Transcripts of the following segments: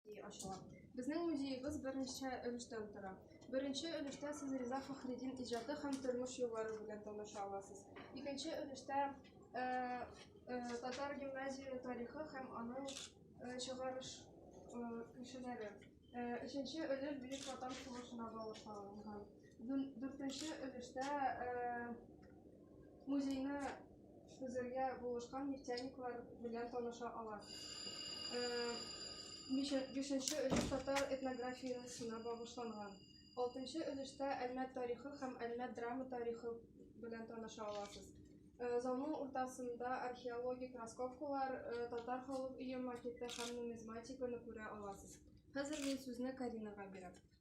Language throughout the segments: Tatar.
ачыла. Безнең музеебыз берничә өлештән тора. Беренче өлештә сез Риза Фәхредин иҗаты һәм тормыш юллары белән таныша аласыз. Икенче өлештә э, э, татар гимназия тарихы һәм аның э, чыгарыш э, кешеләре. Э, өченче өлеш Бөек Ватан сугышына багышланган. Дүн- Дүртенче өлештә э, музейны Үзергә булышкан нефтяниклар белән таныша ала. Бишенче өлеш татар этнографиясенә багышланган. Алтынчы өлештә Әлмәт тарихы һәм Әлмәт драма тарихы белән таныша аласыз. Залның уртасында археологик раскопкалар, татар халык өе макеты һәм нумизматиканы күрә аласыз. Хәзер мин сүзне Каринага бирәм.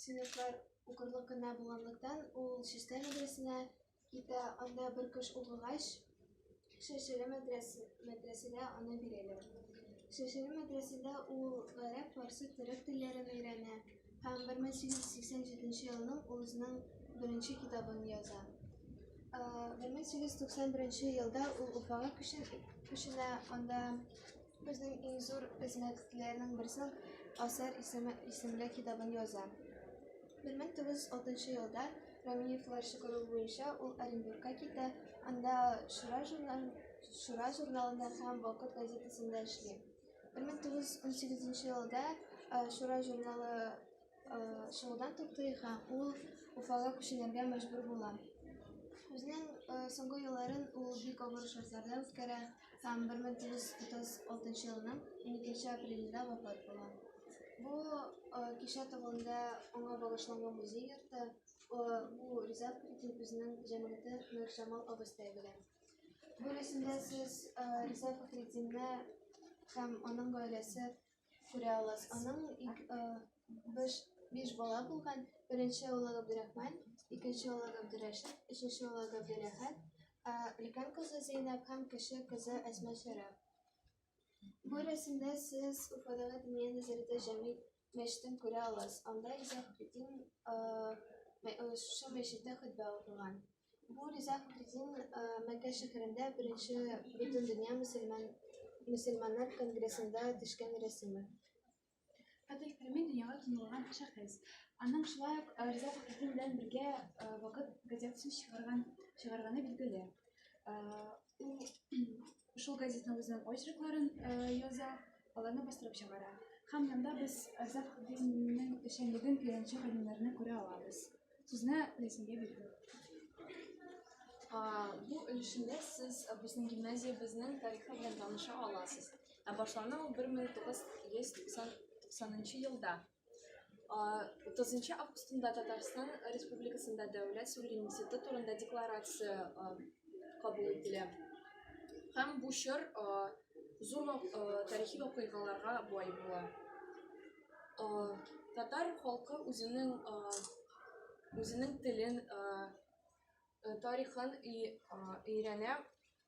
Сыйныфлар укырлык кына булганлыктан, ул Чистай мәдрәсенә китә, анда бер кыш укыгач, Шәшеле мәдрәсәгә аны бирәләр. Шәшеле мәдрәсәдә ул гарәп, фарсы, төрек телләрен өйрәнә һәм 1887 елның үзенең беренче китабын яза. 1891 елда ул Уфага күченә, анда Безнең иң зур эзмәтләрнең берсен Асар исеме исемле китабын яза. 1906 елда Рамиевлар чыгару буенча ул Оренбургка китә, анда Шура журнал Шура журналында һәм Вакыт газетасында эшли. 1918 елда Шура журналы шуудан туктый һәм ул Уфага күченергә мәҗбүр була. Үзенең соңгы елларын ул бик авыр шартларда үткәрә һәм 1936 елның 12 апрелендә вафат була. Бу кичә тагында аңа багышланган музей йорты бу риза Путин үзенең җәмгыяте Нур Җамал абыстай белән. Бу рәсемдә сез риза Фәхреддинне һәм аның гаиләсе Сүрә алас. Аның ик, э, биш, биш бала булган. Беренче улы Габдурахман, икенче улы Габдурашид, өченче улы Габдурахат, ә өлкән кызы Зейнәб һәм кеше кызы Әсма Шәрә. Бу рәсемдә сез Уфадагы Диния нәзарәте җәми мәчетен күрә аласыз. Анда Изаһ Бетин э, мәй- э, шушы мәчеттә хөтбә укыган. Бу риза Фәхреддин Мәккә шәһәрендә беренче Бөтендөнья мөселман мөселманнар конгрессында төшкән рәсеме. Фәтих Кәрми дөньяга танылган шәхес. Аның шулай ук Риза Фәхреддин белән бергә Вакыт газетасын чыгарган чыгарганы билгеле. Ул шул газетның үзенең очеркларын э, яза, аларны бастырып чыгара. Һәм монда без Азат Худинның эшчәнлеген өйрәнче галимнәрне күрә алабыз. Сүзне Ләйсәнгә бирде. Бу өлешендә сез э, безнең гимназиябезнең тарихы белән таныша аласыз. Ә башлана ул 1990 елда. 30 августында Татарстан Республикасында дәүләт суверенитеты турында декларация кабул ителә. Һәм бу чор зур тарихи вакыйгаларга бай була. Татар халкы үзенең үзенең телен, тарихын өйрәнә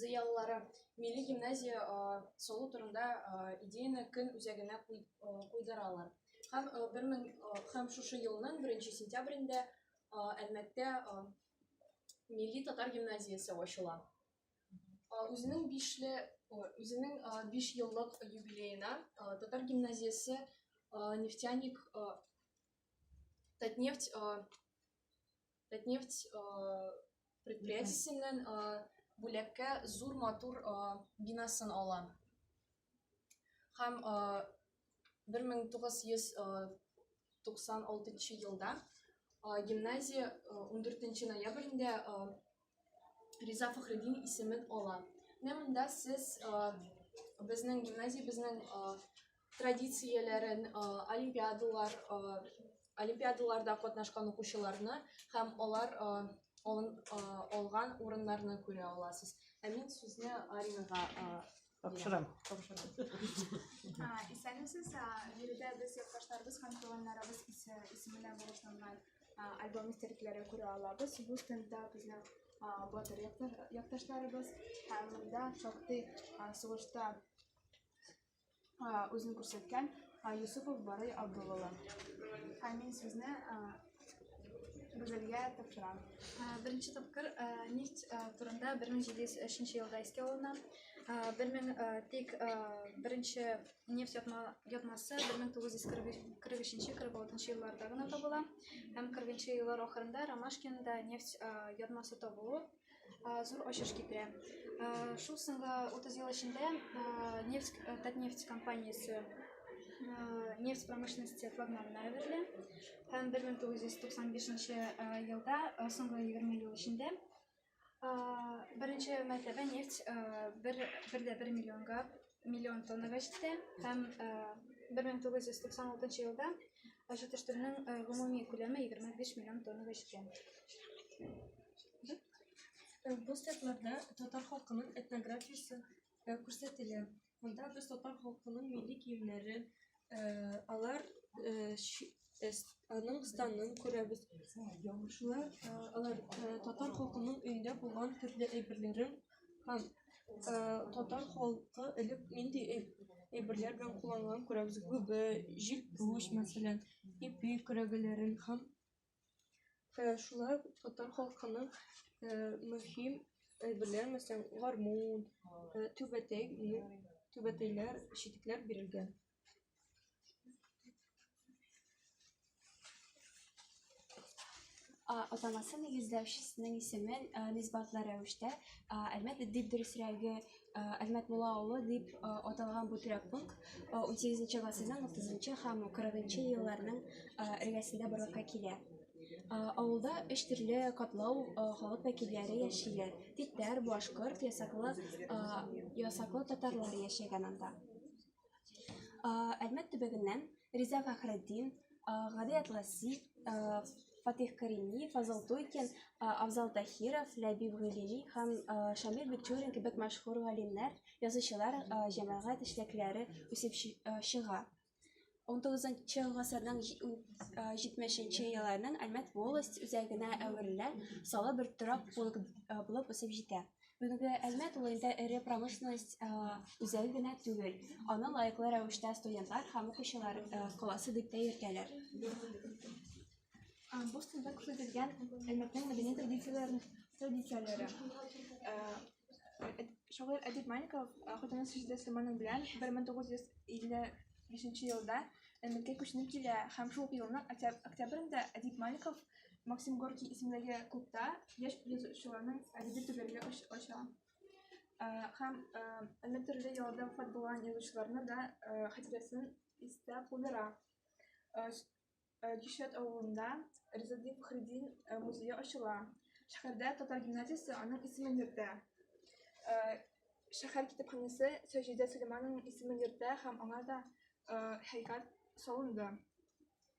зыялылары милли гимназия салу турында идеяны көн үзәгенә куйдыралар. Һәм, бер мең, һәм шушы елның беренче сентябрендә Әлмәттә милли татар гимназиясе ачыла. Үзенең бишле, үзенең биш еллык юбилеена татар гимназиясе нефтяник Татнефть Татнефть э, предприятиесеннән э, бүләккә зур матур э, бинасын ала. Һәм 1996 елда гимназия 14 ноябрендә Риза Фахреддин исемен ала. Менә монда сез безнең гимназия, безнең традицияләрен, олимпиадалар, олимпиадаларда катнашкан укучыларны һәм алар алган урыннарны күрә аласыз. Ә мин сүзне Аринага Тапшырам. Тапшырам. Исәнмесез, биредә без якташларыбыз һәм туганнарыбыз исеменә булышланган альбом истәлекләре күрә алабыз. Бу стендда безнең батыр якташларыбыз һәм монда шактый сугышта үзен күрсәткән Юсупов Барый Абдулловы. Һәм мин сезне Гүзәлгә тапшырам. Беренче тапкыр нефть турында 1703 елда искә алына. Бермен тик беренче нефть ятмасы 1943-46 елларда гына табыла. Һәм 40 еллар ахырында Ромашкинда нефть ятмасы табылу зур ачыш китерә. Шул соңгы 30 ел эчендә нефть Татнефть компаниясе нефть промышленности флагманына әверелә. Һәм 1995 елда соңгы 20 ел эчендә беренче мәртәбә нефть бер бер дә бер миллионга миллион тоннага җитә һәм 1996 э, елда җитештерүнең э, гомуми күләме 25 миллион тоннага җиткән. Э, бу сәтләрдә татар халкының этнографиясе күрсәтелә. Монда без татар халкының милли киемнәре, Э, алар э, э, аның станын күрәбез. Шулай алар татар халкының өендә булган төрле әйберләрен һәм татар халкы элек нинди әйберләр белән кулланган күрәбез. Гүбе, җилпүш, мәсәлән, ипи көрәгеләрен һәм Э, шулай татар халкының э, мөһим әйберләр мәсәлән гармун э, түбәтәй түбәтәйләр читекләр бирелгән атамасы нигезләүчесенең исемен нисбатлы рәвештә әлмәт дип дөресрәге Әлмәт Мула авылы дип аталган бу торак пункт 18 гасырның 30 һәм 40 елларның эргәсендә барлыкка килә. Авылда өч төрле катлау халык вәкилләре яшиләр. Тиктәр, башкорт, ясаклы, ясаклы татарлар яшәгән анда. Әлмәт төбәгеннән Риза Фәхретдин, Гади Атласи, Фатих Карими, Фазыл Туйкин, Авзал Тахиров, Ләбиб Гыйлини һәм Шамил Бикчурин кебек мәшһүр галимнәр, язучылар, җәмәгать эшлекләре үсеп чыга. 19-нчы гасырның 70-нче елларның Әлмәт волость үзәгенә әверелә, салы бер торак булып үсеп җитә. Бүгенге Әлмәт улында эре промышленность үзәге генә түгел, аны лаеклы рәвештә студентлар һәм укучылар коласы дип тә йөртәләр. Бу стендә күрсәтелгән Әлмәтнең мәдәни традицияләрен традицияләре. Шагыйрь Әдип Маликов хатыны Сәҗидә Сөләйманов белән 1955 елда Әлмәткә күченеп килә һәм шул елның октябрендә Әдип Маликов Максим Горький исемендәге клубта яшь язучыларның әдәби түгәрәге ача. Э, һәм э, әллә төрле ялда вафат булган язучыларны да э, хәтирәсен истә калдыра. Кишәт авылында Ризадин Фахреддин музее ачыла. Шәһәрдә татар гимназиясе аның исемен йөртә. Шәһәр китапханәсе Сәҗидә Сөләйманованың исемен йөртә һәм аңа да һәйкәл салынды.